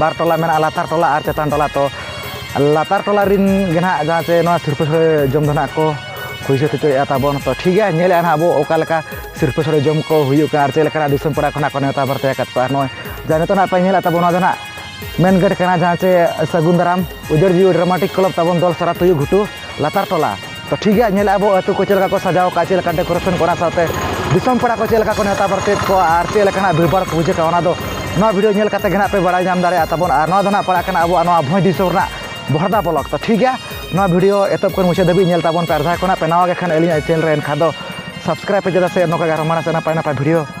ᱵᱟᱨ ᱴᱚᱞᱟ ᱢᱮᱱᱟᱜᱼᱟ ᱞᱟᱛᱟᱨ ᱴᱚᱞᱟ ᱟᱨ ᱪᱮᱛᱟᱱ ᱴᱚᱞᱟ ᱛᱚ ᱞᱟᱛᱟᱨ ᱴᱚᱞᱟ ᱨᱮᱱ ᱜᱮ ᱱᱟᱦᱟᱜ ᱡᱟᱦᱟᱸ ᱪᱮ ᱱᱚᱣᱟ ᱥᱤᱨᱯᱟᱹ ᱥᱚᱲᱮ ᱡᱚᱢ ᱫᱚ ᱱᱟᱦᱟᱜ ᱠᱚ ᱦᱩᱭ ᱥᱟᱹᱛ ᱦᱚᱪᱚᱭᱮᱫᱼᱟ ᱛᱟᱵᱚᱱ ᱛᱚ ᱴᱷᱤᱠ ᱜᱮᱭᱟ ᱧᱮᱞᱮᱫᱼᱟ ᱱᱟᱦᱟᱜ ᱟᱵᱚ ᱚᱠᱟ ᱞᱮᱠᱟ ᱥᱤᱨᱯᱟᱹ ᱥᱚᱲᱮ ᱡᱚᱢ ᱠᱚ ᱦᱩᱭᱩᱜ ᱠᱟᱱᱟ ᱟᱨ ᱪᱮᱫ ᱞᱮᱠᱟᱱᱟᱜ ᱫᱤᱥᱚᱢ ᱯᱮᱲᱟ ᱠᱷᱚᱱᱟᱜ ᱠᱚ ᱱᱮᱣᱛᱟ ᱵᱟᱨᱛᱮ ᱟᱠᱟᱫ ᱠᱚᱣᱟ ᱟᱨ ᱱᱚᱜᱼᱚᱭ ᱡᱟ ᱱᱤᱛᱚᱜ ᱱᱟᱦᱟᱜ ᱯᱮ ᱧᱮᱞᱮᱫ ᱛᱟᱵᱚᱱ ᱱᱚᱣᱟ ᱫᱚ ᱱᱟᱦᱟᱜ ᱢᱮᱱ ᱜᱮᱴ ᱠᱟᱱᱟ ᱡᱟᱦᱟᱸ ᱪᱮ ᱥᱟᱹᱜᱩᱱ ᱫᱟᱨᱟᱢ ᱩᱡᱟᱹᱲ ᱡᱤᱣᱤ ᱰᱨᱟᱢᱟᱴᱤᱠ ᱠᱞᱟᱵᱽ ᱛᱟᱵᱚᱱ ᱫᱚᱞ ᱥᱟᱨᱟ ᱛᱩᱭᱩ ᱜᱷᱩᱴᱩ ᱞᱟᱛᱟᱨ ᱴᱚᱞᱟ ᱛᱚ ᱴᱷᱤᱠ ᱜᱮᱭᱟ ᱧᱮᱞ ᱟᱵᱚ ᱟᱹᱛᱩ ᱠᱚ ᱪᱮᱫ ᱞᱮᱠᱟ ᱠᱚ ᱥᱟᱡᱟᱣ ᱟᱠᱟᱫᱼᱟ ᱪᱮᱫ ᱞᱮᱠᱟ ᱰᱮᱠᱳᱨᱮᱥᱚᱱ ᱠᱚ ᱚᱱᱟ ᱥᱟᱶᱛᱮ ᱫᱤᱥᱚᱢ ᱯᱮᱲᱟ ᱠᱚ ᱪᱮᱫ ᱞᱮᱠᱟ ᱠᱚ ᱱᱮᱶᱛᱟ ᱵᱟᱨᱛᱮᱭᱮᱫ ᱠᱚᱣᱟ ᱟᱨ ᱪᱮᱫ ᱞᱮᱠᱟᱱᱟᱜ ᱵᱷᱤᱲ ᱵᱷᱟᱲ ᱠᱚ ᱵᱩᱡᱷᱟᱹᱜ ᱠᱟᱱᱟ ᱚᱱᱟ ᱫᱚ ᱱᱚᱣᱟ ᱵᱷᱤᱰᱭᱳ ᱧᱮᱞ ᱠᱟᱛᱮᱫ ᱜᱮ ᱦᱟᱸᱜ ᱯᱮ ᱵᱟᱲᱟᱭ ᱧᱟᱢ ᱫᱟᱲᱮᱭᱟᱜᱼᱟ ᱛᱟᱵᱚᱱ ᱟᱨ ᱱᱚᱣᱟ ᱫᱚ ᱦᱟᱸᱜ ᱯᱟᱲᱟᱜ ᱠᱟᱱᱟ ᱟᱵᱚᱣᱟᱜ ᱱᱚᱣᱟ ᱵᱷᱚᱸᱡᱽ ᱫᱤᱥᱚᱢ ᱨᱮᱱᱟᱜ ᱵᱚᱦᱚᱲᱫᱟ ᱵᱞᱚᱠ ᱛᱚ ᱴᱷᱤᱠ ᱜᱮᱭᱟ ᱱᱚᱣᱟ ᱵᱷᱤᱰᱭᱳ ᱮᱛᱚᱦᱚᱵ ᱠᱷᱚᱱ ᱢᱩᱪᱟᱹᱫ ᱫᱷᱟᱹᱵᱤᱡ ᱧᱮᱞ ᱛᱟᱵᱚᱱ ᱯᱮ ᱟᱨ ᱡᱟᱦᱟᱸᱭ ᱠᱚ ᱦᱟᱸᱜ ᱯᱮ ᱱᱟᱣᱟ ᱜᱮᱠᱷᱟᱱ ᱟᱹᱞᱤᱧᱟᱜ ᱪᱮᱱᱮᱞ ᱨᱮ ᱮᱱᱠᱷᱟᱱ ᱫᱚ ᱥᱟᱵᱥᱠᱨᱟᱭᱤᱵᱽ ᱯᱮ ᱪᱮᱫᱟᱜ ᱥᱮ ᱱᱚᱝᱠᱟ ᱜᱮ ᱟᱨᱦᱚᱸ ᱢᱟᱲᱟᱝ ᱥᱮᱫ ᱱᱟᱯᱟᱭ ᱱᱟᱯᱟᱭ ᱵᱷᱤᱰᱭᱳ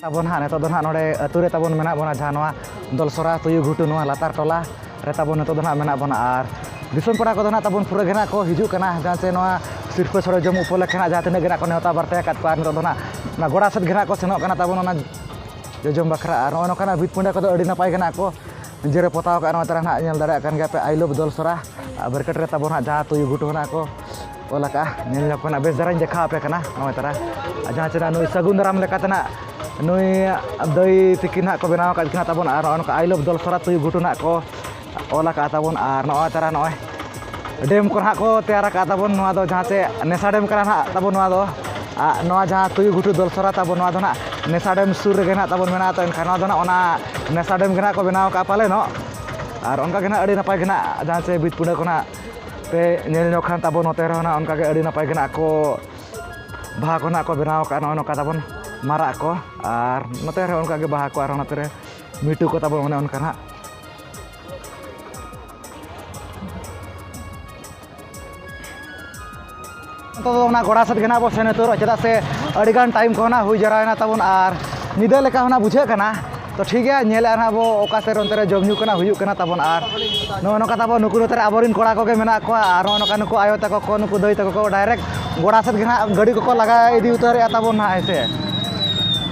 ᱛᱟᱵᱚᱱ ᱦᱟᱸᱜ ᱱᱤᱛᱚᱜ ᱫᱚ ᱦᱟᱸᱜ ᱱᱚᱰᱮ ᱟᱹᱛᱩ ᱨᱮ ᱛᱟᱵᱚᱱ ᱢᱮᱱᱟᱜ ᱵᱚᱱᱟ ᱡᱟᱦᱟᱸ ᱱᱚᱣᱟ ᱫᱚᱞᱥᱚᱨᱟ ᱛᱩᱭᱩ ᱜᱷᱩᱴᱩ ᱱᱚᱣᱟ ᱞᱟᱛᱟᱨ ᱴᱚᱞᱟ ᱨᱮ ᱛᱟᱵᱚᱱ ᱱᱤᱛᱚᱜ ᱫᱚ ᱦᱟᱸᱜ ᱢᱮᱱᱟᱜ ᱵᱚᱱᱟ ᱟᱨ ᱫᱤᱥᱚᱢ ᱯᱮᱲᱟ ᱠᱚᱫᱚ ᱦᱟᱸᱜ ᱛᱟᱵᱚᱱ ᱯᱩᱨᱟᱹ ᱜᱮ ᱦᱟᱸᱜ ᱠᱚ ᱦᱤᱡᱩᱜ ᱠᱟᱱᱟ ᱡᱟᱦᱟᱸ ᱥᱮ ᱱᱚᱣᱟ ᱥᱤᱨᱯᱟᱹ ᱥᱚᱲᱮ ᱡᱚᱢ ᱩᱯᱚᱞᱚᱠᱠᱷᱮ ᱦᱟᱸᱜ ᱡᱟᱦᱟᱸ ᱛᱤᱱᱟᱹᱜ ᱜᱮ ᱦᱟᱸᱜ ᱠᱚ ᱱᱮᱣᱛᱟ ᱵᱟᱨᱛᱮ ᱟᱠᱟᱫ ᱠᱚᱣᱟ ᱱᱤᱛᱚᱜ ᱫᱚ ᱦᱟᱸᱜ ᱚᱱᱟ ᱜᱚᱰᱟ ᱥᱮᱫ ᱜᱮ ᱦᱟᱸᱜ ᱠᱚ ᱥᱮᱱᱚᱜ ᱠᱟᱱᱟ ᱛᱟᱵᱚᱱ ᱚᱱᱟ ᱡᱚᱡᱚᱢ ᱵᱟᱠᱷᱨᱟ ᱟᱨ ᱱᱚᱜᱼᱚ ᱱᱚᱝᱠᱟᱱᱟᱜ ᱵᱷᱤᱛ ᱯᱤᱸᱰᱟᱹ ᱠᱚᱫᱚ ᱟᱹᱰᱤ ᱱᱟᱯᱟᱭ ᱜᱮ ᱦᱟᱸᱜ ᱠᱚ ᱡᱮᱨᱮ ᱯᱚᱛᱟᱣ ᱠᱟᱜ ᱱᱚᱣᱟ ᱛᱟᱨᱟ ᱱᱟᱜ ᱧᱮᱞ ᱫᱟᱲᱮᱭᱟᱜ ᱠᱟᱱ ᱜᱮᱭᱟ ᱯᱮ ᱟᱭ ᱞᱚᱵᱷ ᱫᱚᱞ ᱥᱚᱨᱟ ᱵᱮᱨᱠᱮᱴ ᱨᱮ ᱛᱟᱵᱚᱱ ᱦᱟᱸᱜ ᱡᱟᱦᱟᱸ ᱛᱩᱭᱩ ᱜᱷᱩᱴᱩ ᱦᱮᱱᱟᱜ ᱠᱚ ᱚᱞ ᱟᱠᱟᱜᱼᱟ ᱧᱮᱞ ᱧᱚᱜ ᱠᱟᱱᱟ ᱵᱮᱥ ᱫᱷᱟᱨᱟᱧ ᱫᱮᱠᱷᱟᱣ ᱟᱯᱮ ᱠᱟᱱᱟ ᱱᱚᱣᱟ ᱛᱟᱨᱟ ᱡᱟᱦᱟᱸ ᱪᱮᱫᱟᱜ ᱱᱩᱭ ᱥᱟᱹᱜᱩᱱ ᱫᱟᱨᱟᱢ ᱞᱮᱠᱟᱛᱮ ᱱᱟᱜ ᱱᱩᱭ ᱫᱟᱹᱭ ᱛᱤᱠᱤᱱ ᱦᱟᱸᱜ ᱠᱚ ᱵᱮᱱᱟᱣ ᱟᱠᱟᱫ ᱠᱤᱱᱟ ᱛᱟᱵᱚᱱ ᱟᱨ ᱱᱚᱜᱼᱚ ᱱᱚᱝᱠᱟ ᱟᱭ ᱞᱚᱵᱷ ᱫᱚᱞ ᱥᱚᱨᱟ ᱛᱩᱭᱩ ᱜᱷᱩᱴᱩ ᱱᱟᱜ ᱠᱚ ᱚᱞ ᱟᱠᱟᱜᱼᱟ ᱛᱟᱵᱚᱱ ᱟᱨ ᱱᱚᱜᱼᱚᱭ ᱛᱟᱨᱟ ᱱᱚᱜᱼᱚᱭ ᱰᱮᱢ ᱠᱚ ᱱᱟᱦᱟᱜ ᱠᱚ ᱛᱮᱭᱟᱨ ᱟᱠᱟᱫ ᱛᱟᱵᱚᱱ ᱱᱚᱣᱟ ᱫᱚ ᱡᱟᱦᱟᱸ ᱪᱮ ᱱᱮᱥᱟ ᱰᱮᱢ ᱠᱟᱱᱟ ᱱᱟᱦᱟᱜ ᱛᱟᱵᱚᱱ ᱱᱚᱣᱟ ᱫᱚ ᱟᱨ ᱱᱚᱣᱟ ᱡᱟᱦᱟᱸ ᱛᱩᱭᱩ ᱜᱷᱩᱴᱩ ᱫᱚᱞᱥᱚᱨᱟ ᱛᱟᱵᱚᱱ ᱱᱚᱣᱟ ᱫᱚ ᱱᱟᱦᱟᱜ ᱱᱮᱥᱟ ᱰᱮᱢ ᱥᱩᱨ ᱨᱮᱜᱮ ᱱᱟᱦᱟᱜ ᱛᱟᱵᱚᱱ ᱢᱮᱱᱟᱜᱼᱟ ᱛᱚ ᱮᱱᱠᱷᱟᱱ ᱱᱚᱣᱟ ᱫᱚ ᱱᱟᱦᱟᱜ ᱚᱱᱟ ᱱᱮᱥᱟ ᱰᱮᱢ ᱜᱮ ᱱᱟᱦᱟᱜ ᱠᱚ ᱵᱮᱱᱟᱣ ᱠᱟᱜᱼᱟ ᱯᱟᱞᱮᱱᱚᱜ ᱟᱨ ᱚᱱᱠᱟ ᱜᱮ ᱱᱟᱦᱟᱜ ᱟᱹᱰᱤ ᱱᱟᱯᱟᱭ ᱜᱮ ᱱᱟᱦᱟᱜ ᱡᱟᱦᱟᱸ ᱪᱮ ᱵᱤᱴᱯᱩᱨᱟ ᱠᱚ ᱱᱟᱦᱟᱜ ᱯᱮ ᱧᱮᱞ ᱧᱚᱜ ᱠᱷᱟᱱ ᱛᱟᱵᱚᱱ ᱱᱚᱛᱮ ᱨᱮᱦᱚᱸ ᱱᱟᱦᱟᱜ ᱚᱱᱠᱟ ᱜᱮ ᱟᱹᱰᱤ ᱱᱟᱯᱟᱭ ᱜᱮ ᱱᱟᱦᱟᱜ ᱠᱚ ᱵᱟᱦᱟ ᱠᱚ ᱱᱟᱦᱟᱜ ᱠᱚ ᱵᱮᱱᱟᱣ ᱠᱟᱜᱼᱟ ᱱᱚᱜᱼᱚᱸᱭ ᱱᱚᱝᱠᱟ ᱛᱟᱵᱚᱱ ᱢᱟᱨᱟᱜ ᱠᱚ ᱟᱨ ᱱᱚᱛᱮ ᱨᱮᱦᱚᱸ ᱚᱱᱠᱟ ᱜᱮ ᱵᱟᱦᱟ ᱠᱚ ᱟᱨ ᱱᱚᱛᱮ ᱨᱮ ᱢᱤᱴᱩ ᱠᱚ ᱛᱟᱵᱚᱱ ᱚᱱᱮ ᱚᱱᱠᱟ ᱱᱟᱦᱟᱜ ᱱᱤᱛᱚᱜ ᱫᱚ ᱚᱱᱟ ᱜᱚᱲᱟ ᱥᱮᱫ ᱜᱮ ᱱᱟᱜ ᱵᱚ ᱥᱮᱱ ᱩᱛᱟᱹᱨᱚᱜᱼᱟ ᱪᱮᱫᱟᱜ ᱥᱮ ᱟᱹᱰᱤᱜᱟᱱ ᱴᱟᱭᱤᱢ ᱠᱚ ᱱᱟᱜ ᱦᱩᱭ ᱡᱟᱣᱨᱟᱭᱮᱱᱟ ᱛᱟᱵᱚᱱ ᱟᱨ ᱧᱤᱫᱟᱹ ᱞᱮᱠᱟ ᱦᱚᱸ ᱱᱟᱜ ᱵᱩᱡᱷᱟᱹᱜ ᱠᱟᱱᱟ ᱛᱚ ᱴᱷᱤᱠ ᱜᱮᱭᱟ ᱧᱮᱞᱮᱫᱼᱟ ᱱᱟᱜ ᱵᱚ ᱚᱠᱟ ᱥᱮᱫ ᱚᱱᱛᱮ ᱨᱮ ᱡᱚᱢ ᱧᱩ ᱠᱚᱱᱟᱜ ᱦᱩᱭᱩᱜ ᱠᱟᱱᱟ ᱛᱟᱵᱚᱱ ᱟᱨ ᱱᱚᱜᱼᱚ ᱱᱚᱝᱠᱟ ᱛᱟᱵᱚᱱ ᱱᱩᱠᱩ ᱱᱚᱛᱮ ᱨᱮ ᱟᱵᱚᱨᱮᱱ ᱠᱚᱲᱟ ᱠᱚᱜᱮ ᱢᱮᱱᱟᱜ ᱠᱚᱣᱟ ᱟᱨ ᱱᱚᱜᱼᱚ ᱱᱚᱝᱠᱟ ᱱᱩᱠᱩ ᱟᱭᱳ ᱛᱟᱠᱚ ᱠᱚ ᱱᱩᱠᱩ ᱫᱟᱹᱭ ᱛᱟᱠᱚ ᱠᱚ ᱰᱟᱭᱨᱮᱠᱴ ᱜᱚᱲᱟ ᱥᱮᱫ ᱜᱮ ᱱᱟᱜ ᱜᱟᱹᱰᱤ ᱠᱚᱠᱚ ᱞᱟᱜᱟ ᱤᱫᱤ ᱩᱛᱟᱹᱨᱮᱫᱼᱟ ᱛᱟᱵᱚᱱ ᱱᱟᱜ ᱦᱮᱸ ᱥᱮ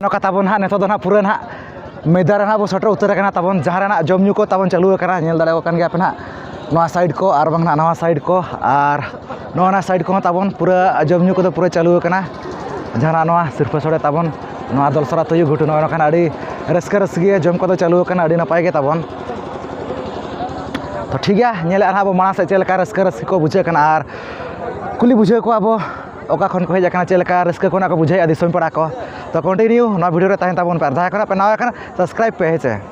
ᱱᱚᱝᱠᱟ ᱛᱟᱵᱚᱱ ᱦᱟᱸᱜ ᱱᱤᱛᱚᱜ ᱫᱚ ᱦᱟᱸᱜ ᱯᱩᱨᱟᱹ ᱦᱟᱸᱜ ᱢᱮᱫᱟ ᱨᱮ ᱦᱟᱸᱜ ᱵᱚ ᱥᱮᱴᱮᱨ ᱩᱛᱟᱹᱨ ᱟᱠᱟᱱᱟ ᱛᱟᱵᱚᱱ ᱡᱟᱦᱟᱸ ᱨᱮ ᱦᱟᱸᱜ ᱡᱚᱢ ᱧᱩ ᱠᱚ ᱛᱟᱵᱚᱱ ᱪᱟᱹᱞᱩ ᱟᱠᱟᱱᱟ ᱧᱮᱞ ᱫᱟᱲᱮᱭᱟᱜ ᱠᱟᱱ ᱜᱮᱭᱟ ᱯᱮ ᱦᱟᱸᱜ ᱱᱚᱣᱟ ᱥᱟᱭᱤᱰ ᱠᱚ ᱟᱨ ᱵᱟᱝ ᱦᱟᱸᱜ ᱱᱟᱣᱟ ᱥᱟᱭᱤᱰ ᱠᱚ ᱟᱨ ᱱᱚᱜᱼᱚ ᱱᱟ ᱥᱟᱭᱤᱰ ᱠᱚᱦᱚᱸ ᱛᱟᱵᱚᱱ ᱯᱩᱨᱟᱹ ᱡᱚᱢ ᱧᱩ ᱠᱚᱫᱚ ᱯᱩᱨᱟᱹ ᱪᱟᱹᱞᱩ ᱟᱠᱟᱱᱟ ᱡᱟᱦᱟᱱᱟᱜ ᱱᱚᱣᱟ ᱥᱤᱨᱯᱟᱹ ᱥᱚᱲᱮ ᱛᱟᱵᱚᱱ ᱱᱚᱣᱟ ᱫᱚᱞ ᱥᱚᱨᱟ ᱛᱩᱭᱩ ᱜᱷᱩᱴᱩ ᱱᱚᱜᱼᱚ ᱱᱚᱝᱠᱟᱱᱟᱜ ᱟᱹᱰᱤ ᱨᱟᱹᱥᱠᱟᱹ ᱨᱟᱹᱥᱜᱮ ᱡᱚᱢ ᱠᱚᱫᱚ ᱪᱟᱹᱞᱩ ᱟᱠᱟᱱᱟ ᱟᱹᱰᱤ ᱱᱟᱯᱟᱭ ᱜᱮ ᱛᱟᱵᱚᱱ ᱛᱚ ᱴᱷᱤᱠ ᱜᱮᱭᱟ ᱧᱮᱞᱮᱫᱼᱟ ᱱᱟᱦᱟᱜ ᱵᱚᱱ ᱢᱟᱲᱟᱝ ᱥᱮᱫ ᱪᱮᱫ ᱞᱮᱠᱟ ᱨᱟᱹᱥᱠᱟᱹ ᱨᱟᱹᱥᱠᱤ ᱠᱚ ᱵᱩᱡᱷᱟᱹᱜ ᱠᱟᱱᱟ ᱟᱨ ᱠᱩᱞᱤ ᱵᱩᱡᱷᱟᱹᱣ ᱠᱚᱣᱟ ᱵᱚᱱ ᱚᱠᱟ ᱠᱷᱚᱱ ᱠᱚ ᱦᱮᱡ ᱟᱠᱟᱱᱟ ᱪᱮᱫ ᱞᱮᱠᱟ ᱨᱟᱹᱥᱠᱟᱹ ᱠᱚ ᱱᱟᱦᱟᱜ ᱠᱚ ᱵᱩᱡᱷᱟᱹᱣᱮᱫᱼᱟ ᱫᱤᱥᱚᱢ ᱯᱮᱲᱟ ᱠᱚ ᱛᱚ ᱠᱚᱱᱴᱤᱱᱤᱭᱩ ᱱᱚᱣᱟ ᱵᱷᱤᱰᱭᱳ ᱨᱮ ᱛᱟᱦᱮᱱ ᱛᱟᱵᱚᱱ ᱯᱮ ᱟᱨ ᱡᱟᱦᱟᱸᱭ ᱠᱚ ᱱᱟᱦᱟᱜ ᱯᱮ ᱱᱟᱣᱟ ᱟᱠᱟᱱᱟ ᱥᱟᱵᱥᱠᱨᱟᱭᱤᱵᱽ ᱯᱮ ᱦᱮᱸ ᱥᱮ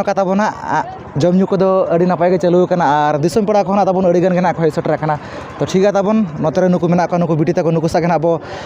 ᱱᱚᱝᱠᱟ ᱛᱟᱵᱚᱱ ᱦᱟᱸᱜ ᱡᱚᱢ ᱧᱩ ᱠᱚᱫᱚ ᱟᱹᱰᱤ ᱱᱟᱯᱟᱭ ᱜᱮ ᱪᱟᱹᱞᱩ ᱟᱠᱟᱱᱟ ᱟᱨ ᱫᱤᱥᱚᱢ ᱯᱮᱲᱟ ᱠᱚᱦᱚᱸ ᱛᱟᱵᱚᱱ ᱟᱹᱰᱤ ᱜᱟᱱ ᱜᱮ ᱱᱟᱜ ᱠᱚ ᱦᱮᱡ ᱥᱮᱴᱮᱨ ᱟᱠᱟᱱᱟ ᱛᱚ ᱴᱷᱤᱠ ᱜᱮᱭᱟ ᱛᱟᱵᱚᱱ ᱱᱚᱛᱮ ᱨᱮ ᱱᱩᱠᱩ ᱢᱮᱱᱟᱜ ᱠᱚᱣᱟ ᱱᱩᱠᱩ ᱵᱤᱴᱤ ᱛᱟᱠᱚ ᱱᱩᱠᱩ ᱥᱟᱜ ᱜᱮ ᱱᱟᱜ ᱵᱚ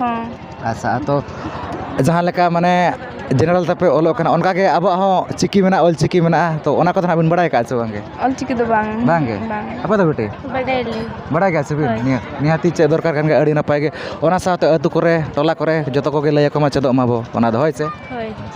ᱦᱚᱸ ᱟᱪᱪᱷᱟ ᱟᱫᱚ ᱡᱟᱦᱟᱸ ᱞᱮᱠᱟ ᱢᱟᱱᱮ ᱡᱮᱱᱟᱨᱮᱞ ᱛᱮᱯᱮ ᱚᱞᱚᱜ ᱠᱟᱱᱟ ᱚᱱᱠᱟ ᱜᱮ ᱟᱵᱚᱣᱟᱜ ᱦᱚᱸ ᱪᱤᱠᱤ ᱢᱮᱱᱟᱜᱼᱟ ᱚᱞ ᱪᱤᱠᱤ ᱢᱮᱱᱟᱜᱼᱟ ᱛᱚ ᱚᱱᱟ ᱠᱚᱫᱚ ᱦᱟᱸᱜ ᱵᱤᱱ ᱵᱟᱲᱟᱭ ᱠᱟᱜᱼᱟ ᱥᱮ ᱵᱟᱝ ᱜᱮ ᱚᱞ ᱪᱤᱠᱤ ᱫᱚ ᱵᱟᱝ ᱵᱟᱝ ᱜᱮ ᱟᱯᱮ ᱫᱚ ᱵᱤᱴᱤ ᱵᱟᱰᱟᱭ ᱟᱞᱤᱧ ᱵᱟᱲᱟᱭ ᱜᱮᱭᱟ ᱥᱮ ᱵᱤᱱ ᱦᱳᱭ ᱱᱤᱦᱟᱹᱛ ᱱᱤᱦᱟᱹᱛᱤ ᱪᱮᱫ ᱫᱚᱨᱠᱟᱨ ᱠᱟᱱ ᱜᱮᱭᱟ ᱟᱹᱰᱤ ᱱᱟᱯᱟᱭ ᱜᱮ ᱚᱱᱟ ᱥᱟᱶᱛᱮ ᱟᱹᱛᱩ ᱠᱚᱨᱮ ᱴᱚᱞᱟ ᱠᱚᱨᱮ ᱡᱚᱛᱚ ᱠᱚᱜᱮ ᱞᱟᱹᱭ ᱟᱠᱚ ᱢᱟ ᱪᱮᱫᱚᱜ ᱢᱟᱵᱚᱱ ᱚᱱᱟ ᱫᱚ ᱦᱳᱭ ᱥᱮ ᱦᱳᱭ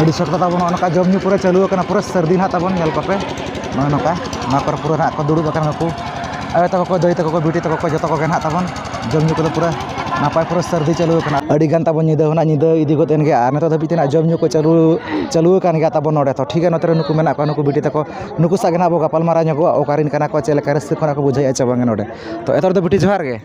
ᱟᱹᱰᱤ ᱥᱚᱴ ᱠᱟᱛᱷᱟ ᱵᱟᱹᱱᱩᱜᱼᱟ ᱱᱚᱝᱠᱟ ᱡᱚᱢ ᱧᱩ ᱯᱩᱨᱟᱹ ᱪᱟᱹᱞᱩ ᱟᱠᱟᱱᱟ ᱯᱩᱨᱟᱹ ᱥᱟᱹᱨᱫᱤ ᱱᱟᱦᱟᱜ ᱛᱟᱵᱚᱱ ᱧᱮᱞ ᱠᱚᱯᱮ ᱱᱚᱜᱼᱚᱭ ᱱᱚᱝᱠᱟ ᱱᱚᱣᱟ ᱠᱚᱨᱮ ᱯᱩᱨᱟᱹ ᱱᱟᱦᱟᱜ ᱠᱚ ᱫᱩᱲᱩᱵ ᱟᱠᱟᱱ ᱜᱮᱠᱚ ᱟᱭᱳ ᱛᱟᱠᱚ ᱠᱚ ᱫᱟᱹᱭ ᱛᱟᱠᱚ ᱠᱚ ᱵᱤᱴᱤ ᱛᱟᱠᱚ ᱠᱚ ᱡᱚᱛᱚ ᱠᱚᱜᱮ ᱱᱟᱦᱟᱜ ᱛᱟᱵᱚᱱ ᱡᱚᱢ ᱧᱩ ᱠᱚᱫᱚ ᱯᱩᱨᱟᱹ ᱱᱟᱯᱟᱭ ᱯᱩᱨᱟᱹ ᱥᱟᱹᱨᱫᱤ ᱪᱟᱹᱞᱩ ᱟᱠᱟᱱᱟ ᱟᱹᱰᱤ ᱜᱟᱱ ᱛᱟᱵᱚᱱ ᱧᱤᱫᱟᱹ ᱦᱚᱸ ᱱᱟᱦᱟᱜ ᱧᱤᱫᱟᱹ ᱤᱫᱤ ᱜᱚᱫ ᱮᱱ ᱜᱮᱭᱟ ᱟᱨ ᱱᱤᱛᱚᱜ ᱫᱷᱟᱹᱵᱤᱡ ᱛᱮ ᱱᱟᱦᱟᱜ ᱡᱚᱢ ᱧᱩ ᱠᱚ ᱪᱟᱹᱞᱩ ᱪᱟᱹᱞᱩ ᱟᱠᱟᱱ ᱜᱮᱭᱟ ᱛᱟᱵᱚᱱ ᱱᱚᱰᱮ ᱫᱚ ᱴᱷᱤᱠ ᱜᱮᱭᱟ ᱱᱚᱛᱮ ᱨᱮ ᱱᱩᱠᱩ ᱢᱮᱱᱟᱜ ᱠᱚᱣᱟ ᱱᱩᱠᱩ ᱵᱤᱴᱤ ᱛᱟᱠᱚ ᱱᱩᱠᱩ ᱥᱟᱞᱟᱜ ᱜᱮ ᱱᱟᱦᱟᱜ ᱵᱚᱱ ᱜᱟᱯᱟᱞᱢᱟᱨᱟᱣ ᱧᱚᱜᱚᱜᱼᱟ ᱚᱠᱟ ᱨᱮᱱ ᱠᱟᱱᱟ ᱠᱚ ᱪᱮᱫ ᱞᱮᱠᱟ ᱨᱟᱹᱥᱠᱟᱹ ᱠᱚ ᱱᱟᱦᱟᱜ ᱠᱚ ᱵᱩᱡᱷᱟᱹᱣᱮᱫᱼᱟ ᱥᱮ ᱵᱟᱝ ᱱᱚᱰᱮ ᱛᱳ ᱮᱛᱚᱦᱚᱵ ᱫᱚ ᱵᱤᱴᱤ ᱡᱚᱦᱟᱨ ᱜᱮ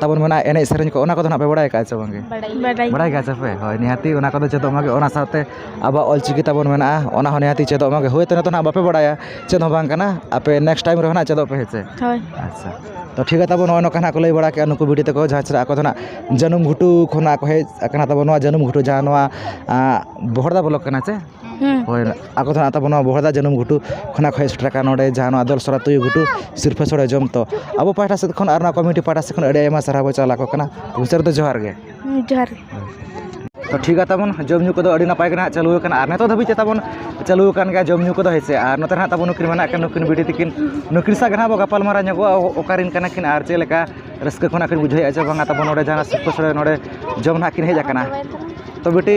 ᱛᱟᱨᱯᱚᱨ ᱢᱮᱱᱟᱜᱼᱟ ᱮᱱᱮᱡ ᱥᱮᱨᱮᱧ ᱠᱚ ᱚᱱᱟ ᱠᱚᱫᱚ ᱦᱟᱸᱜ ᱯᱮ ᱵᱟᱲᱟᱭ ᱠᱟᱜᱼᱟ ᱥᱮ ᱵᱟᱝᱜᱮ ᱵᱟᱲᱟᱭ ᱜᱮᱭᱟ ᱥᱮᱯᱮ ᱦᱳᱭ ᱱᱤᱦᱟᱹᱛ ᱚᱱᱟ ᱠᱚᱫᱚ ᱪᱮᱫᱚᱜ ᱢᱟᱜᱮ ᱚᱱᱟ ᱥᱟᱶᱛᱮ ᱟᱵᱚᱣᱟᱜ ᱚᱞ ᱪᱤᱠᱤ ᱛᱟᱵᱚᱱ ᱢᱮᱱᱟᱜᱼᱟ ᱚᱱᱟ ᱦᱚᱸ ᱱᱤᱦᱟᱹᱛ ᱪᱮᱫᱚᱜ ᱢᱟᱜᱮ ᱦᱳᱭ ᱛᱚ ᱱᱤᱛᱚᱜ ᱦᱟᱸᱜ ᱵᱟᱯᱮ ᱵᱟᱲᱟᱭᱟ ᱪᱮᱫ ᱦᱚᱸ ᱵᱟᱝ ᱠᱟᱱᱟ ᱟᱯᱮ ᱱᱮᱠᱥᱴ ᱴᱟᱭᱤᱢ ᱨᱮᱦᱚᱸ ᱦᱟᱸᱜ ᱪᱮᱫᱚᱜ ᱯᱮ ᱦᱮᱸ ᱥᱮ ᱦᱳᱭ ᱟᱪᱪᱷᱟ ᱛᱳ ᱴᱷᱤᱠ ᱜᱮᱭᱟ ᱛᱟᱵᱚ ᱱᱚᱜᱼᱚᱭ ᱱᱚᱝᱠᱟ ᱦᱟᱸᱜ ᱠᱚ ᱞᱟᱹᱭ ᱵᱟᱲᱟ ᱠᱮᱜᱼᱟ ᱱᱩᱠᱩ ᱵᱤᱴᱤ ᱛᱟᱠᱚ ᱡᱟᱦᱟᱸ ᱪᱮᱫᱟᱜ ᱟᱠᱚ ᱫᱚ ᱦᱟᱸᱜ ᱡᱟᱹᱱᱩᱢ ᱜᱷᱩᱴᱩ ᱠᱷᱚᱱᱟᱜ ᱠᱚ ᱦᱮᱡ ᱠᱟᱱᱟ ᱛᱟᱵᱚᱱ ᱱᱚᱣᱟ ᱡᱟᱹᱱᱩᱢ ᱜᱷᱩᱴᱩ ᱡᱟᱦᱟᱸ ᱱᱚᱣᱟ ᱵᱚᱦᱚᱲᱫᱟ ᱵᱞᱚᱠ ᱠᱟᱱᱟ ᱥᱮ ᱦᱳᱭ ᱟᱠᱚ ᱫᱚ ᱦᱟᱸᱜ ᱛᱟᱵᱚᱱ ᱱᱚᱣᱟ ᱵᱚᱦᱚᱲᱫᱟ ᱡᱟᱹᱱᱩᱢ ᱜᱷᱩᱴᱩ ᱠᱷᱚᱱᱟᱜ ᱠᱚ ᱦᱮᱡ ᱥᱮᱴᱮᱨ ᱟᱠᱟᱱᱟ ᱱᱚᱰᱮ ᱡᱟᱦᱟᱸ ᱱᱚᱣᱟ ᱟᱫᱚᱞ ᱥᱚᱨᱟ ᱛᱩᱭᱩ ᱜᱷᱩᱴᱩ ᱥᱤᱨᱯᱟᱹ ᱥᱚᱲᱮ ᱡᱚᱢ ᱛᱚ ᱟᱵᱚ ᱯᱟᱦᱴᱟ ᱥᱮᱫ ᱠᱷᱚᱱ ᱟᱨ ᱱᱚᱣᱟ ᱠᱚᱢᱤᱴᱤ ᱯᱟᱦᱴᱟ ᱥᱮᱫ ᱠᱷᱚᱱ ᱟᱹᱰᱤ ᱟᱭᱢᱟ ᱥᱟᱨᱦᱟᱣ ᱵᱚᱱ ᱪᱟᱞ ᱟᱠᱚ ᱠᱟᱱᱟ ᱢᱩᱪᱟᱹᱫ ᱨᱮᱫᱚ ᱡᱚᱦᱟᱨ ᱜᱮ ᱡᱚᱦᱟᱨ ᱜᱮ ᱛᱚ ᱴᱷᱤᱠ ᱜᱮᱭᱟ ᱛᱟᱵᱚᱱ ᱡᱚᱢ ᱧᱩ ᱠᱚᱫᱚ ᱟᱹᱰᱤ ᱱᱟᱯᱟᱭ ᱜᱮ ᱦᱟᱸᱜ ᱪᱟᱹᱞᱩ ᱟᱠᱟᱱᱟ ᱟᱨ ᱱᱤᱛᱚᱜ ᱫᱷᱟᱹᱵᱤᱡ ᱛᱮ ᱛᱟᱵᱚᱱ ᱪᱟᱹᱞᱩ ᱟᱠᱟᱱ ᱜᱮᱭᱟ ᱡᱚᱢ ᱧᱩ ᱠᱚᱫᱚ ᱦᱮᱸ ᱥᱮ ᱟᱨ ᱱᱚᱛᱮ ᱦᱟᱸᱜ ᱛᱟᱵᱚᱱ ᱱᱩᱠᱤᱱ ᱢᱮᱱᱟᱜ ᱠᱤᱱᱟ ᱱᱩᱠᱤᱱ ᱵᱤᱴᱤ ᱛᱟᱹᱠᱤᱱ ᱱᱩᱠᱤᱱ ᱥᱟᱶ ᱜᱮ ᱦᱟᱸᱜ ᱵᱚᱱ ᱜᱟᱯᱟᱞᱢᱟᱨᱟᱣ ᱧᱚᱜᱚᱜᱼᱟ ᱚᱠᱟ ᱨᱮᱱ ᱠᱟᱱᱟ ᱠᱤᱱ ᱟᱨ ᱪᱮᱫ ᱞᱮᱠᱟ ᱨᱟᱹᱥᱠᱟᱹ ᱠᱷᱚᱱᱟᱜ ᱠᱤᱱ ᱵᱩᱡᱷᱟᱹᱣᱮᱫᱼᱟ ᱥᱮ ᱵᱟᱝ ᱛᱟᱵᱚᱱ ᱱᱚᱰᱮ ᱡᱟᱦᱟᱸ ᱥᱤᱨᱯᱟᱹ ᱥᱚᱲᱮ ᱱᱚᱰᱮ ᱡᱚᱢ ᱦᱟᱸᱜ ᱠᱤᱱ ᱦᱮᱡ ᱟᱠᱟᱱᱟ ᱛᱚ ᱵᱤᱴᱤ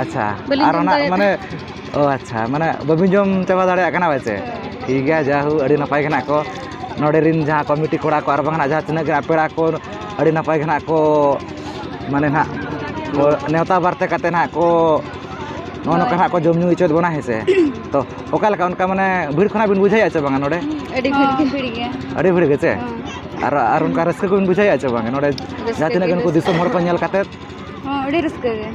ᱟᱪᱪᱷᱟ ᱵᱟᱹᱞᱤᱧ ᱟᱨ ᱡᱚᱢ ᱚᱱᱟ ᱫᱟᱲᱮᱭᱟᱜ ᱢᱟᱱᱮ ᱛᱟᱦᱮᱸᱫ ᱚ ᱟᱪᱪᱷᱟ ᱢᱟᱱᱮ ᱵᱟᱹᱵᱤᱱ ᱡᱚᱢ ᱪᱟᱵᱟ ᱫᱟᱲᱮᱭᱟᱜ ᱠᱟᱱᱟ ᱯᱟᱪᱮ ᱴᱷᱤᱠ ᱜᱮᱭᱟ ᱡᱟᱭᱦᱳ ᱟᱹᱰᱤ ᱱᱟᱯᱟᱭ ᱜᱮ ᱱᱟᱜ ᱠᱚ ᱱᱚᱸᱰᱮ ᱨᱮᱱ ᱡᱟᱦᱟᱸ ᱠᱚᱢᱤᱴᱤ ᱠᱚᱲᱟ ᱠᱚ ᱟᱨ ᱵᱟᱝ ᱱᱟᱜ ᱡᱟᱦᱟᱸ ᱛᱤᱱᱟᱹᱜ ᱜᱮ ᱱᱟᱜ ᱯᱮᱲᱟ ᱠᱚ ᱟᱹᱰᱤ ᱱᱟᱯᱟᱭ ᱜᱮ ᱱᱟᱜ ᱠᱚ ᱢᱟᱱᱮ ᱱᱟᱜ ᱠᱚ ᱱᱮᱣᱛᱟ ᱵᱟᱨᱛᱮ ᱠᱟᱛᱮᱫ ᱱᱟᱜ ᱠᱚ ᱱᱚᱜᱼᱚ ᱱᱚᱝᱠᱟ ᱱᱟᱜ ᱠᱚ ᱡᱚᱢ ᱧᱩ ᱦᱚᱪᱚᱭᱮᱫ ᱵᱚᱱᱟ ᱦᱮᱸ ᱥᱮ ᱛᱚ ᱚᱠᱟ ᱞᱮᱠᱟ ᱚᱱᱠᱟ ᱢᱟᱱᱮ ᱵᱷᱤᱲ ᱠᱷᱚᱱᱟᱜ ᱵᱤᱱ ᱵᱩᱡᱷᱟᱹᱣᱮᱫᱼᱟ ᱪᱮ ᱵᱟᱝᱟ ᱱᱚᱸᱰᱮ ᱟᱹᱰᱤ ᱵᱷᱤᱲ ᱜᱮ ᱵᱷᱤᱲ ᱜᱮᱭᱟ ᱟᱹᱰᱤ ᱵᱷᱤᱲ ᱜᱮᱪᱮ ᱟᱨ ᱟᱨ ᱚᱱᱠᱟ ᱨᱟᱹᱥᱠᱟᱹ ᱠᱚᱵᱤᱱ ᱵᱩᱡᱷᱟᱹᱣᱮᱫᱼᱟ ᱪᱮ ᱵᱟᱝᱟ ᱱᱚᱸᱰᱮ ᱡᱟᱦᱟᱸ ᱛᱤᱱᱟᱹᱜ ᱜᱮ ᱱᱩᱠᱩ ᱫᱤᱥᱚᱢ ᱦᱚᱲ ᱠᱚ ᱧᱮᱞ ᱠᱟᱛᱮᱫ ᱦᱚᱸ ᱟᱹᱰᱤ ᱨᱟᱹᱥᱠᱟᱹ ᱜᱮ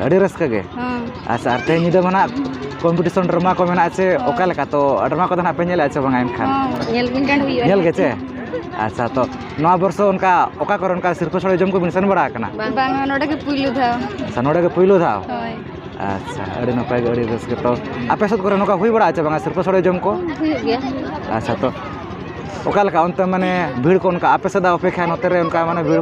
ᱟᱹᱰᱤ ᱨᱟᱹᱥᱠᱟᱹ ᱜᱮ ᱦᱚᱸ ᱟᱪᱪᱷᱟ ᱟᱨ ᱛᱮᱦᱮᱧ ᱧᱤᱫᱟᱹ ᱢᱟ ᱱᱟᱜ ᱠᱚᱢᱯᱤᱴᱤᱥᱚᱱ ᱰᱨᱟᱢᱟ ᱠᱚ ᱢᱮᱱᱟᱜᱼᱟ ᱥᱮ ᱚᱠᱟ ᱞᱮᱠᱟ ᱛᱚ ᱰᱨᱟᱢᱟ ᱠᱚᱫᱚ ᱱᱟᱜ ᱯᱮ ᱧᱮᱞᱮᱫᱼᱟ ᱥᱮ ᱵᱟᱝᱟ ᱮᱱᱠᱷᱟᱱ ᱦᱚᱸ ᱧᱮᱞ ᱵᱤᱱ ᱜᱟᱱ ᱦᱩᱭᱩᱜᱼᱟ ᱧᱮᱞ ᱜᱮ ᱪᱮ ᱟᱪᱪᱷᱟ ᱛᱚ ᱱᱚᱣᱟ ᱵᱚᱨᱥᱚ ᱚᱱᱠᱟ ᱚᱠᱟ ᱠᱚᱨᱮ ᱚᱱᱠᱟ ᱥᱤᱨᱯᱟᱹ ᱥᱚᱲᱮ ᱡᱚᱢ ᱠᱚᱵᱤᱱ ᱥᱮᱱ ᱵᱟᱲᱟ ᱟᱠᱟᱱᱟ ᱵᱟᱝ ᱱᱚᱰᱮ ᱜᱮ ᱯᱩᱭᱞᱩ ᱫᱷᱟᱣ ᱟᱪᱪᱷᱟ ᱱᱚᱰᱮ ᱜᱮ ᱯᱳᱭᱞᱳ ᱫᱷᱟᱣ ᱦᱳᱭ ᱟᱪᱪᱷᱟ ᱟᱹᱰᱤ ᱱᱟᱯᱟᱭ ᱜᱮ ᱟᱹᱰᱤ ᱨᱟᱹᱥᱠᱟᱹ ᱛᱚ ᱟᱯᱮ ᱥᱮᱫ ᱠᱚᱨᱮ ᱱᱚᱝᱠᱟ ᱦᱩᱭ ᱵᱟᱲᱟᱜᱼᱟ ᱪᱮ ᱵᱟᱝᱟ ᱥᱤᱨᱯᱟᱹ ᱥᱚᱲᱮ ᱡᱚᱢ ᱠᱚ ᱦᱩᱭᱩᱜ ᱜᱮᱭᱟ ᱟᱪᱪᱷᱟ ᱛᱚ ᱚᱠᱟ ᱞᱮᱠᱟ ᱚᱱᱛᱮ ᱢᱟᱱᱮ ᱵᱷᱤᱲ ᱠᱚ ᱚᱱᱠᱟ ᱟᱯᱮ ᱥᱮᱫᱟᱜ ᱚᱯᱮᱠᱠᱷᱟ ᱱᱚᱛᱮ ᱨᱮ ᱚᱱᱠᱟ ᱢᱟᱱᱮ ᱵᱷᱤᱲ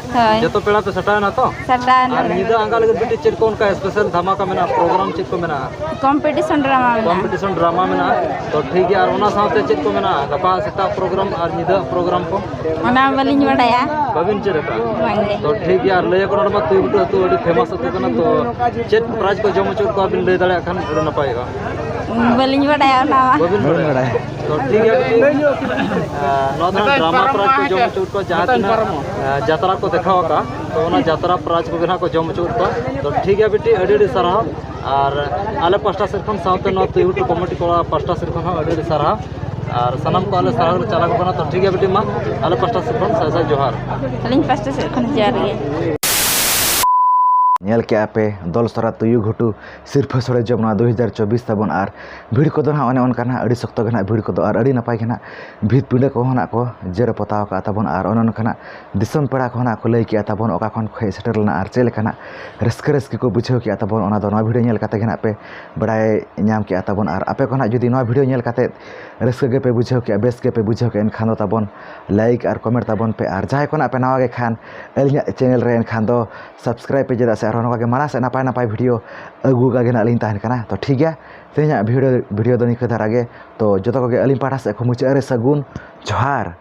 ᱦᱳᱭ ᱡᱚᱛᱚ ᱯᱮᱲᱟ ᱯᱮ ᱥᱟᱴᱟᱣ ᱮᱱᱟ ᱛᱚ ᱥᱟᱯᱲᱟᱣ ᱟᱨ ᱱᱟᱞᱮ ᱧᱤᱫᱟᱹ ᱟᱸᱜᱟ ᱞᱟᱹᱜᱤᱫ ᱵᱤᱴᱤ ᱪᱮᱫ ᱠᱚ ᱚᱱᱠᱟ ᱥᱯᱮᱥᱟᱞ ᱫᱷᱟᱢᱟᱠᱟ ᱢᱮᱱᱟᱜᱼᱟ ᱯᱨᱳᱜᱨᱟᱢ ᱪᱮᱫ ᱠᱚ ᱢᱮᱱᱟᱜᱼᱟ ᱠᱚᱢᱯᱤᱴᱤᱥᱚᱱ ᱰᱨᱟᱢᱟ ᱢᱮᱱᱟᱜᱼᱟ ᱠᱚᱢᱯᱤᱴᱤᱥᱚᱱ ᱰᱨᱟᱢᱟ ᱢᱮᱱᱟᱜᱼᱟ ᱛᱚ ᱴᱷᱤᱠ ᱜᱮᱭᱟ ᱟᱨ ᱚᱱᱟ ᱥᱟᱶᱛᱮ ᱪᱮᱫ ᱠᱚ ᱢᱮᱱᱟᱜᱼᱟ ᱜᱟᱯᱟ ᱥᱮᱛᱟᱜ ᱯᱨᱳᱜᱨᱟᱢ ᱟᱨ ᱧᱤᱫᱟᱹ ᱯᱨᱳᱜᱨᱟᱢ ᱠᱚ ᱚᱱᱟ ᱵᱟᱹᱞᱤᱧ ᱵᱟᱰᱟᱭᱟ ᱵᱟᱹᱵᱤᱱ ᱪᱮᱫ ᱟᱠᱟᱫᱼᱟ ᱵᱟᱝᱜᱮ ᱛᱚ ᱴᱷᱤᱠ ᱜᱮᱭᱟ ᱟᱨ ᱞᱟᱹᱭ ᱟᱠᱚ ᱱᱚᱰᱮ ᱢᱟ ᱛᱩᱭᱩ ᱜᱩᱴᱩ ᱟᱹᱛᱩ ᱟᱹᱰᱤ ᱯᱷᱮᱢᱟᱥ ᱟᱹᱛᱩ ᱠᱟᱱᱟ ᱛᱚ ᱪᱮᱫ ᱯᱨᱟᱭᱤᱡᱽ ᱠᱚ ᱡᱚᱢ ᱦᱚᱪᱚᱭᱮᱫ ᱠᱚᱣᱟ ᱵᱤᱱ ᱞᱟᱹᱭ ᱫᱟᱲᱮᱭᱟᱜ ᱠᱷᱟᱱ ᱟᱹᱰᱤ ᱱᱟᱯᱟᱭᱚᱜᱼᱟ ᱵᱟᱹᱞᱤᱧ ᱵᱟᱰᱟᱭᱟ ᱚᱱᱟ ᱢᱟ ᱵᱟᱹᱵᱤᱱ ᱵᱟᱲᱟᱭᱟ ᱛᱚ ᱴᱷᱤᱠ ᱜᱮᱭᱟ ᱱᱚᱣᱟ ᱫᱚ ᱰᱨᱟᱢᱟ ᱯᱨᱟᱡᱽ ᱠᱚ ᱡᱚᱢ ᱦᱚᱪᱚ ᱠᱚᱣᱟ ᱡᱟᱦᱟᱸ ᱛᱤᱱᱟᱹᱜ ᱡᱟᱛᱨᱟ ᱠᱚ ᱫᱮᱠᱷᱟᱣ ᱟᱠᱟᱫᱼᱟ ᱛᱚ ᱚᱱᱟ ᱡᱟᱛᱨᱟ ᱯᱨᱟᱡᱽ ᱠᱚᱜᱮ ᱱᱟᱦᱟᱜ ᱠᱚ ᱡᱚᱢ ᱦᱚᱪᱚ ᱠᱚᱣᱟ ᱛᱚ ᱴᱷᱤᱠ ᱜᱮᱭᱟ ᱵᱤᱴᱤ ᱟᱹᱰᱤ ᱟᱹᱰᱤ ᱥᱟᱨᱦᱟᱣ ᱟᱨ ᱟᱞᱮ ᱯᱟᱥᱴᱟ ᱥᱮᱫ ᱠᱷᱚᱱ ᱥᱟᱶᱛᱮ ᱱᱚᱣᱟ ᱛᱩᱭᱩ ᱴᱩ ᱠᱚᱢᱤᱴᱤ ᱠᱚᱲᱟ ᱯᱟᱥᱴᱟ ᱥᱮᱫ ᱠᱷᱚᱱ ᱦᱚᱸ ᱟᱹᱰᱤ ᱟᱹᱰᱤ ᱥᱟᱨᱦᱟᱣ ᱟᱨ ᱥᱟᱱᱟᱢ ᱠᱚ ᱟᱞᱮ ᱥᱟᱨᱦᱟᱣ ᱞᱮ ᱪᱟᱞᱟᱣ ᱠᱟᱱᱟ ᱛᱚ ᱴᱷᱤᱠ ᱜᱮᱭᱟ ᱵᱤᱴᱤ ᱢᱟ ᱟᱞᱮ ᱯᱟᱥᱴᱟ ᱥᱮᱫ ᱠᱷᱚᱱ ᱥᱟᱭ ᱥᱟᱭ ᱡᱚᱦᱟᱨ ᱟᱹᱞᱤᱧ ᱯᱟᱥᱴᱟ ᱥᱮᱫ ᱠᱷᱚᱱ ᱡᱚᱦᱟᱨ ᱜᱮ ᱧᱮᱞ ᱠᱮᱜᱼᱟ ᱯᱮ ᱫᱚᱞ ᱥᱚᱨᱟ ᱛᱩᱭᱩ ᱜᱷᱩᱴᱩ ᱥᱤᱨᱯᱟᱹ ᱥᱚᱦᱞᱮ ᱡᱚᱢ ᱱᱚᱣᱟ ᱫᱩ ᱦᱟᱡᱟᱨ ᱪᱚᱵᱵᱤᱥ ᱛᱟᱵᱚᱱ ᱟᱨ ᱵᱷᱤᱲ ᱠᱚᱫᱚ ᱦᱟᱸᱜ ᱚᱱᱮ ᱚᱱᱠᱟ ᱦᱟᱸᱜ ᱟᱹᱰᱤ ᱥᱚᱠᱛᱚ ᱜᱮ ᱦᱟᱸᱜ ᱵᱷᱤᱲ ᱠᱚᱫᱚ ᱟᱨ ᱟᱹᱰᱤ ᱱᱟᱯᱟᱭ ᱜᱮ ᱦᱟᱸᱜ ᱵᱷᱤᱛ ᱯᱤᱰᱟᱹ ᱠᱚᱦᱚᱸ ᱦᱟᱸᱜ ᱠᱚ ᱡᱮᱨᱮᱲ ᱯᱚᱛᱟᱣ ᱠᱟᱜ ᱛᱟᱵᱚᱱ ᱟᱨ ᱚᱱᱮ ᱚᱱᱠᱟ ᱦᱟᱸᱜ ᱫᱤᱥᱚᱢ ᱯᱮᱲᱟ ᱠᱚᱦᱚᱸ ᱦᱟᱸᱜ ᱠᱚ ᱞᱟᱹᱭ ᱠᱮᱜᱼᱟ ᱛᱟᱵᱚᱱ ᱚᱠᱟ ᱠᱷᱚᱱ ᱠᱚ ᱦᱮᱡ ᱥᱮᱴᱮᱨ ᱞᱮᱱᱟ ᱟᱨ ᱪᱮᱫ ᱞᱮᱠᱟᱱᱟᱜ ᱨᱟᱹᱥᱠᱟᱹ ᱨᱟᱹᱥᱠᱤ ᱠᱚ ᱵᱩᱡᱷᱟᱹᱣ ᱠᱮᱜᱼᱟ ᱛᱟᱵᱚᱱ ᱚᱱᱟᱫᱚ ᱱᱚᱣᱟ ᱵᱷᱤᱰᱭᱳ ᱧᱮᱞ ᱠᱟᱛᱮ ᱜᱮ ᱦᱟᱸᱜ ᱯᱮ ᱵᱟᱲᱟᱭ ᱧᱟᱢ ᱠᱮᱜᱼᱟ ᱛᱟᱵᱚᱱ ᱟᱨ ᱟᱯᱮ ᱠᱚ ᱦᱟᱸᱜ ᱡᱩᱫᱤ ᱱᱚᱣᱟ ᱵᱷᱤᱰᱭᱳ ᱧᱮᱞ ᱠᱟᱛᱮ ᱨᱟᱹᱥᱠᱟᱹ ᱜᱮᱯᱮ ᱵᱩᱡᱷᱟᱹᱣ ᱠᱮᱜᱼᱟ ᱵᱮᱥ ᱜᱮᱯᱮ ᱵᱩᱡᱷᱟᱹᱣ ᱠᱮᱜᱼᱟ ᱮᱱᱠᱷᱟᱱ ᱫᱚ ᱛᱟᱵᱚᱱ ᱞᱟᱭᱤᱠ ᱟᱨ ᱠᱚᱢᱮᱱᱴ ᱛᱟᱵᱚᱱ ᱯᱮ ᱟᱨ ᱡᱟᱦᱟᱸᱭ ᱠᱚ ᱦᱟᱸᱜ ᱯᱮ ᱱᱟᱣᱟ ᱜᱮᱠᱷᱟᱱ ᱟᱹᱞᱤᱧᱟᱜ ᱪᱮᱱᱮᱞ ᱨᱮ ᱮᱱᱠᱷᱟᱱ ᱫᱚ ᱥᱟᱵᱥᱠᱨᱟᱭᱤᱵ ᱯᱮ ᱪᱮᱫᱟᱜ ᱥᱮ ᱟᱨᱦᱚᱸ ᱱᱚᱝᱠᱟᱜᱮ ᱢᱟᱲᱟᱝ ᱥᱮᱫ ᱱᱟᱯᱟᱭ ᱱᱟᱯᱟᱭ ᱵᱷᱤᱰᱭᱳ ᱟᱹᱜᱩ ᱠᱟᱜᱮ ᱱᱟᱜ ᱞᱤᱧ ᱛᱟᱦᱮᱱ ᱠᱟᱱᱟ ᱛᱚ ᱴᱷᱤᱠ ᱜᱮᱭᱟ ᱛᱮᱦᱮᱧᱟᱜ ᱵᱷᱤᱰᱭᱳ ᱫᱚ ᱱᱤᱝᱠᱟᱹ ᱫᱷᱟᱨᱟ ᱜᱮ ᱛᱚ ᱡᱚᱛᱚ ᱠᱚᱜᱮ ᱟᱹᱞᱤᱧ ᱯᱟᱦᱴᱟ ᱥᱮᱫ ᱠᱷᱚᱱ ᱢᱩᱪᱟᱹᱫ ᱨᱮ ᱥᱟᱹᱜᱩᱱ ᱡᱚᱦᱟᱨ